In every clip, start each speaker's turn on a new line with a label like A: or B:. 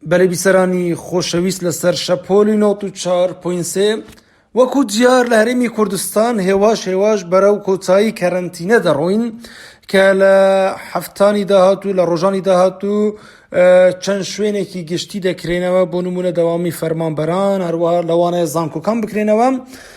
A: بەلی بیسەرانی خۆشەویست لەسەر شەپۆلی نۆت و چوار پۆینت سێ وەکو دیار لە هەرێمی کوردستان هێواش هێواش بەرەو کۆتایی کەرەنتینە دەڕۆین کە لە هەفتانی داهاتوو لە ڕۆژانی داهاتوو چەند شوێنێکی گشتی دەکرێنەوە بۆ نمونە دەوامی فەرمانبەران هەروە لەوانەیە زانکۆکان بکرێنەوە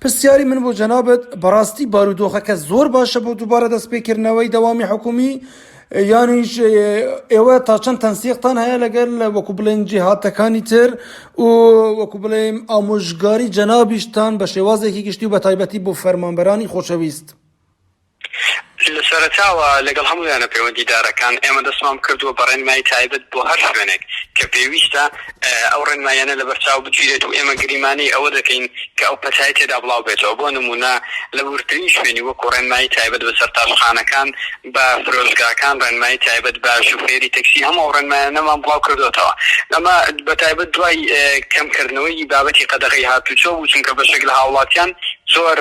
A: پرسیاری من بۆ جەنابت بەڕاستی بارودۆخەکە زۆر باشە بۆ دووبارە دەستپێکردنەوەی دەوامی حکومی یانیش ئێوە تا چەند تەنسیقتان هەیە لەگەر لە وەکو بڵێن جیهاتەکانی تر و وەکو بڵێم ئامۆژگاری جەنابیشتان بە شێوازێکی گشتی و بە تایبەتی بۆ فەرمانبەرانی خۆشەویست.
B: لە سەرەتاوە لەگەڵ هەموو یانە پەیوەندیدارەکان ئێمە دەستمان بکردووە بە ڕێنمایی تایبەت بۆ هەر شوێنێک کە پێویستە ئەو ڕێنماییانە لەبەرچاو بگیرێت و ئێمە گریمانەی ئەوە دەکەین کە ئەو پەتای تێدا بڵاو بێتەوە بۆ نموونە لە وردترین شوێنی وەکو ڕێنمایی تایبەت بە سەرتاشخانەکان بە فرۆشگاکان ڕێنمایی تایبەت بە شوفێری تەکسی هەموو ئەو ڕێنمایانەمان بڵاو کردۆتەوە ئەمە بە تایبەت دوای کەمکردنەوەی بابەتی قەدەغەی هاتووچۆ بوو چونکە بەشێک لە هاوڵاتیان زۆر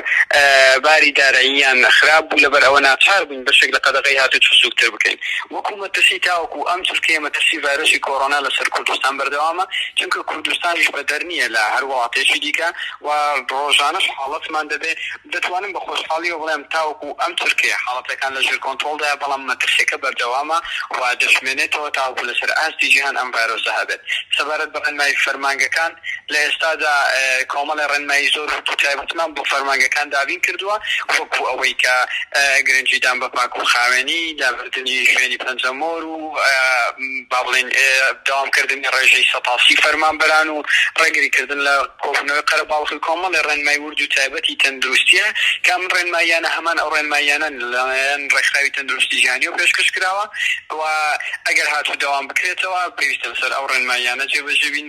B: باری داراییان خراپ بوو، لەبەر ئەوە ناچار بووین بەشێک لە قەدەغەی هاتووچۆ سووکتر بکەین. وەکو مەترسی تاوەکو ئەم چرکەیە مەترسی ڤایرۆسی کۆرۆنا لەسەر کوردستان بەردەوامە، چونکە کوردستانیش بەدەر نییە لە هەر وڵاتێکی دیکە و ڕۆژانەش حاڵەتمان دەبێت. دەتوانم بە خۆشحاڵییەوە بڵێم تاوەکو ئەم چرکەیە حاڵەتەکان لە ژێر کۆنترۆڵدایە، بەڵام مەترسییەکە بەردەوامە و دەشمێنێتەوە تاوەکو لەسەر ئاستی جیهان ئەم ڤایرۆسە هەبێت. سەبارەت بە ڕێنمایی فەرمانگەکان، لە ئێستادا کۆمەڵێ ڕێنمایی زۆر ورد و تایبەتمان بۆ فەرمانگەکان دابین کردووە، وەکو ئەوەی کە گرنگیدان بە پاک و خاوێنی، لابردنی شوێنی پەنجەمۆر و با بڵێین دەوامکردنی ڕێژەی سەد تا سی فەرمانبەران و ڕێگری کردن لە کۆبوونەوەی قەرەباڵغی کۆمەڵێ ڕێنمای ورد و تایبەتی تەندروستییە کە ئەم ڕێنماییانە هەمان ئەو ڕێنماییانەن لەلایەن ڕێکخراوی تەندروستی جیهانییەوە پێشکەش کراوە و ئەگەر هاتوو دەوام بکرێتەوە پێویستە لەسەر ئەو ڕێنماییانە جێبەجێ بین.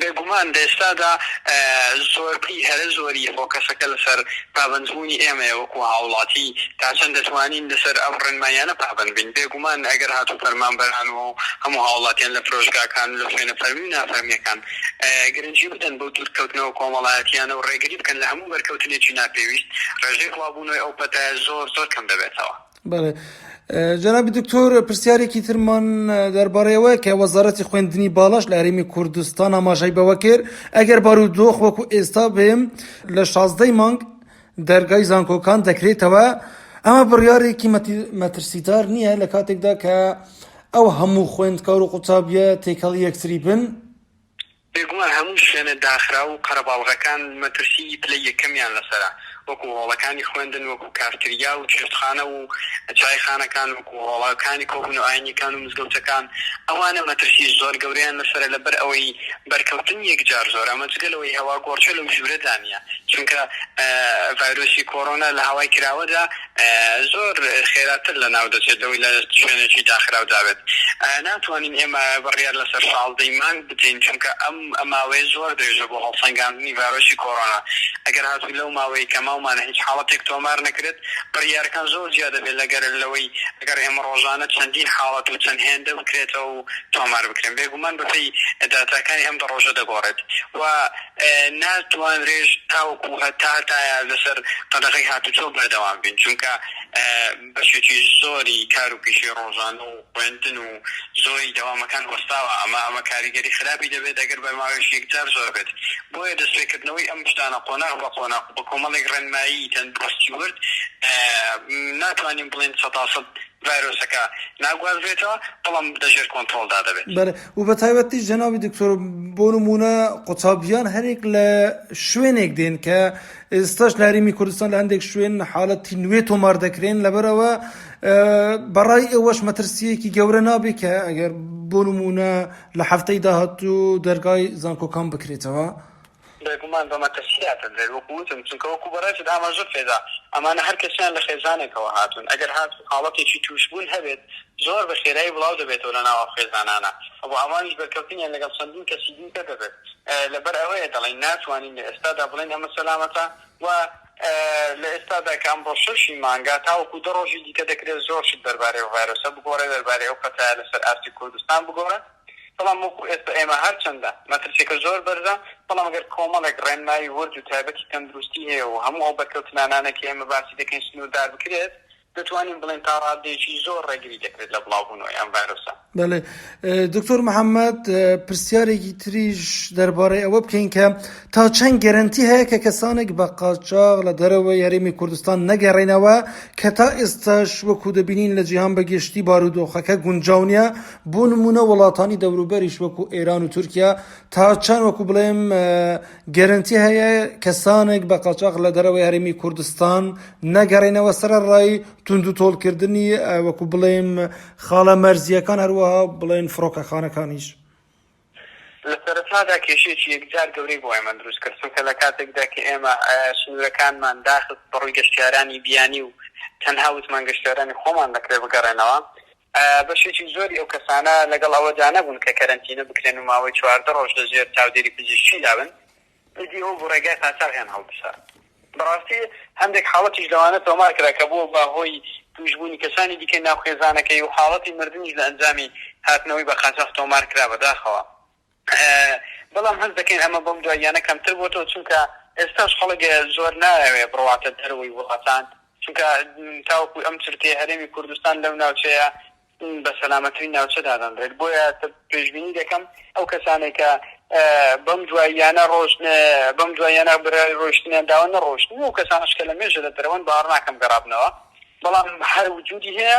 A: بێگومان
B: لە ئێستادا زۆربەی هەرە زۆری فۆکەسەکە لەسەر پابەندبوونی ئێمەیە وەکو هاوڵاتی تا چەند دەتوانین لەسەر ئەم ڕێنماییانە پابەند بین، بێگومان ئەگەر هاتوو فەرمانبەران و هەموو هاوڵاتیان لە پرۆژگاکان و لە شوێنە فەرمی و نافەرمیەکان گرنگی بدەن بەو دوورکەوتنەوە کۆمەڵایەتیانە و ڕێگری بکەن لە هەموو بەرکەوتنێکی ناپێویست، ڕێژەی بڵاوبوونەوەی ئەو پەتایە زۆر زۆر کەم دەبێتەوە. بەڵێ
A: جەنابی دکتۆر پرسیارێکی ترمان دەربارەیەوە کە وەزارەتی خوێندنی باڵاش لە هەرێمی کوردستان ئاماژای بەوە کرد ئەگەر بارودۆخ وەکو ئێستا بێم لە شازدەی مانگ دەرگای زانکۆکان دەکرێتەوە ئەمە بڕیارێکی مەترسیدار نییە لە کاتێکدا کە ئەو هەموو خوێندکار و قوتابیە تێکەڵ یەکتری بن بێگومان
B: هەموو شوێنە داخراو و قەرەباڵغەکان مەترسیی پلەی یەکەمیان لەسەرە، وەکو هۆڵەکانی خوێندن، وەکو کافتریا و چێشتخانە و چایخانەکان، وەکو هۆڵەکانی کۆبوون و ئاینییەکان و مزگەوتەکان، ئەوانە مەترسیی زۆر گەورەیان لەسەرە، لەبەر ئەوەی بەرکەوتن یەکجار زۆرە، ئەمە جگە لەوەی هەواگۆڕکێ لەو ژوورەدا نییە، چونکە ڤایرۆسی کۆرۆنا لە هەوای کراوەدا، زۆر خێراتر لەناو دەچێت لەوەی لە شوێنێکی داخراودا بێت. ناتوانین ئێمە بڕیار لەسەر شازدەی مانگ بدەین، چونکە ئەم ماوەیە زۆر درێژە بۆ هەڵسەنگاندنی ڤایرۆسی کۆرۆنا. ئەگەر هاتوو لەو ماوەیەی کە ماومانە هیچ حاڵەتێک تۆمار نەکرێت، بڕیارەکان زۆر جیا دەبێت لەگەر لەوەی ئەگەر ئێمە ڕۆژانە چەندین حاڵەت و چەند هێندە بکرێتەوە و تۆمار بکرێن. بێگومان بەپێی داتاکانی ئەم دە ڕۆژە دەگۆڕێت و، ناتوانرێت تاوەکو هەتا هەتایە لەسەر قەدەغەی هاتوچۆ بەردەوام بین، چونکە بەشێکی زۆری کار و پیشەی ڕۆژانە و خوێندن و زۆری دەوامەکان وەستاوە، ئەمە ئەمە کاریگەری خراپی دەبێت ئەگەر بەرماوێش یەکجار زۆر بێت، بۆیە دەستپێکردنەوەی ئەم شتانە قۆناغ بە قۆناغ و بە کۆمەڵێک ڕێنمایی تەندروستی ورد ناتوانین بڵێین سەتاسەد. ڤایرۆسەکە ناگوازرێتەوە بەڵام لە ژێر
A: کۆنترۆڵدا دەبێت. بەڵێ و بە تایبەتیش جەنابی دکتۆر بۆ نموونە قوتابیان هەریەک لە شوێنێک دێن کە ئێستاش لە هەرێمی کوردستان لە هەندێک شوێن حاڵەتی نوێ تۆمار دەکرێن لەبەرەوە بەڕای ئێوەش مەترسیەکی گەورە نابێت کە ئەگەر بۆ نموونە لە هەفتەی داهاتوو دەرگای زانکۆکان بکرێتەوە. بێگومان
B: بە مەترسیاتر دێت وەکو وتم چونکە وەکو بەڕێزت ئاماژەت پێدا ئەمانە هەر کەسیان لە خێزانێکەوە هاتوون ئەگەر هات حاڵەتێکی تووشبوون هەبێت زۆر بە خێرایی بڵاو دەبێتەوە لە ناو ئەو خێزانانە ئەوە ئەوانیش بەرکەوتنیان لەگەڵ چەندین کەسی دیکە دەبێت لەبەر ئەوەیە دەڵێن ناتوانین لە ئێستادا بڵێن ئەمە سەلامەتە و لە ئێستادا کە ئەمڕۆ شەش ی مانگە تاوەکو دە ڕۆژی دیکە دەکرێت زۆر شت دەربارەی ئەو ڤایرۆسە بگۆڕێت دەربارەی ئەو پەتایە لەسەر ئاستی کوردستان بگۆڕێت. بەڵام وەکو ئێستا ئێمە هەرچەندە مەترسیەکە زۆر بەرزە بەڵام گەر کۆمەڵێک ڕێنمایی ورد و تایبەتی تەندروستی هەیە و هەموو ئەو بەرکەوتنانانەی کە ئێمە باسی دەکەین سنووردار بکرێت دەتوانین بڵێین تا ڕاددەیەکی زۆر ڕێگری دەکرێت لە بڵاوبوونەوەی ئەم ڤایرۆسە. بەڵێ
A: دکتۆر محەمەد پرسیارێکی تریش دەربارەی ئەوە بکەین کە تا چەند گەرەنتی هەیە کە کەسانێک بە قاچاغ لە دەرەوەی هەرێمی کوردستان نەگەڕێنەوە کە تا ئێستاش وەکو دەبینین لە جیهان بەگشتی بارودۆخەکە گونجاو نیە بۆ نموونە وڵاتانی دەوروبەریش وەکو ئێران و تورکیا تا چەند وەکو بڵێم گەرنتی هەیە کەسانێک بە قاچاق لە دەرەوەی هەرمی کوردستان نەگەڕێنەوە سرە ڕای تونند و تۆڵکردنی وەکو بڵێم خاڵە مەرزیەکان هەروەها بڵێن فڕۆکەخانەکانیش. لە سەرەتادا کێشێکی یەکجار گەورەی بۆ ئێمە
B: دروست کرد چونکە لە کاتێکدا کە ئێمە سنوورەکانمان داخست بەڕووی گەشتیارانی بیانی و تەنها وتمان گەشتیارانی خۆمان دەکرێت بگەڕێنەوە بەشێکی زۆری ئەو کەسانە لەگەڵ ئەوەدا نەبوون کە کەرەنتینە بکرێن و ماوەی چواردە ڕۆژ لە ژێر چاودێری پزیشکیدا بن، ئیدی ئەو بوو ڕێگای قاچاغیان هەڵبسا. بەڕاستی هەندێک حاڵەتیش لەوانە تۆمار کرا کە بووە بە هۆی تووشبوونی کەسانی دیکەی ناو خێزانەکەی و حاڵەتی مردنیش لە ئەنجامی هاتنەوەی بە قاچاخ تۆمار کرا بەداخەوە. بەڵام هەست دەکەین ئەمە بەم دواییانە کەمتر بۆتەوە چونکە ئێستاش خەڵک زۆر نایەوێ بڕواتە دەرەوەی وڵاتان چونکە تاوەکو ئەم چرکەیە هەرێمی کوردستان لەو ناوچەیە بە سەلامەترین ناوچە دادەنرێت بۆیە پێشبینی دەکەم ئەو کەسانەی کە بەم دواییانە ڕۆژ بەم دواییانە برای ڕۆشتنیان داوە نەڕۆشتن و کەسانش کە لە مێژە لە دەرەوەن باڕ ناکەم گەڕابنەوە بەڵام هەر وجودی هەیە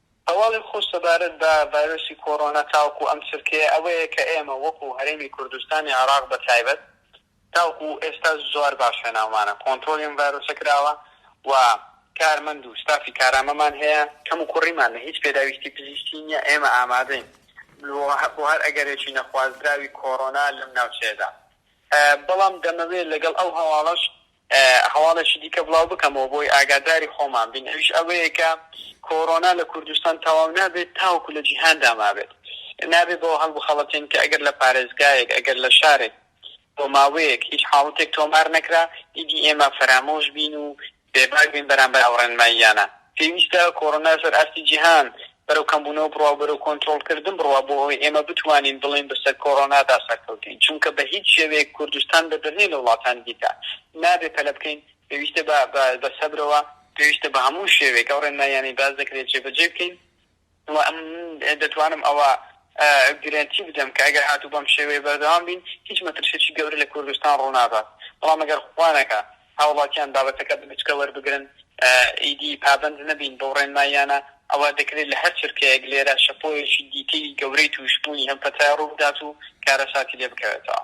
B: هەواڵی خۆش سەبارەت بە ڤایرۆسی کۆرۆنا تاوەکو ئەم چرکەیە ئەوەیە کە ئێمە وەکو هەرێمی کوردستانی عێراق بە تایبەت تاوەکو ئێستا زۆر باش هێناومانە کۆنترۆڵی ئەم ڤایرۆسە کراوە و کارمەند و ستافی کارامەمان هەیە کەم و کوڕیمان لە هیچ پێداویستی پزیشکی نیە ئێمە ئامادەین بۆ هەر ئەگەرێکی نەخوازراوی کۆرۆنا لەم ناوچەیەدا بەڵام دەمەوێت لەگەڵ ئەو هەواڵەش هەواڵێکی دیکە بڵاو بکەمەوە بۆی ئاگاداری خۆمان بین ئەویش ئەوەیە کە کۆرۆنا لە کوردستان تەواو نابێت تاوەکو لە جیهاندا مابێت نابێت بەوە هەڵبخەڵەتێن کە ئەگەر لە پارێزگایەک ئەگەر لە شارێک بۆ ماوەیەک هیچ حاڵەتێک تۆمار نەکرا ئیدی ئێمە فەرامۆش بین و بێباک بین بەرامبەر ئەو ڕێنماییانە. پێویستە کۆرۆنا سەر ئاستی جیهان بەرەو کەمبوونەوە بڕوا و بەرەو کۆنترۆڵکردن بڕوا بۆ ئەوەی ئێمە بتوانین بڵێین بەسەر کۆرۆنادا سەرکەوتین چونکە بە هیچ شێوەیەک کوردستان بەدرنیە لە وڵاتانی دیکە نابێ پەلە بکەین پێویستە بە سەبرەوە پێویستە بە هەموو شێوەیەک ئەو ڕێنماییانەی باس دەکرێت جێبەجێ بکەین. وە من دەتوانم ئەوە گرەنتی بدەم کە ئەگەر هاتوو بەم شێوەیە بەردەوام بین هیچ مەترسیەکی گەورە لە کوردستان ڕوونادات بەڵام ئەگەر خوا نەکا هاوڵاتیان بابەتەکە بە گچکە وەربگرن ئیدی پابەند نەبین بەو ڕێنماییانە ئەوا دەکرێت لە هەر چرکەیەک لێرە شەپۆلێکی دیکەی گەورەی تووشبوونی ئەم پەتایە ڕووبدات و کارەساتی لێ بکەوێتەوە.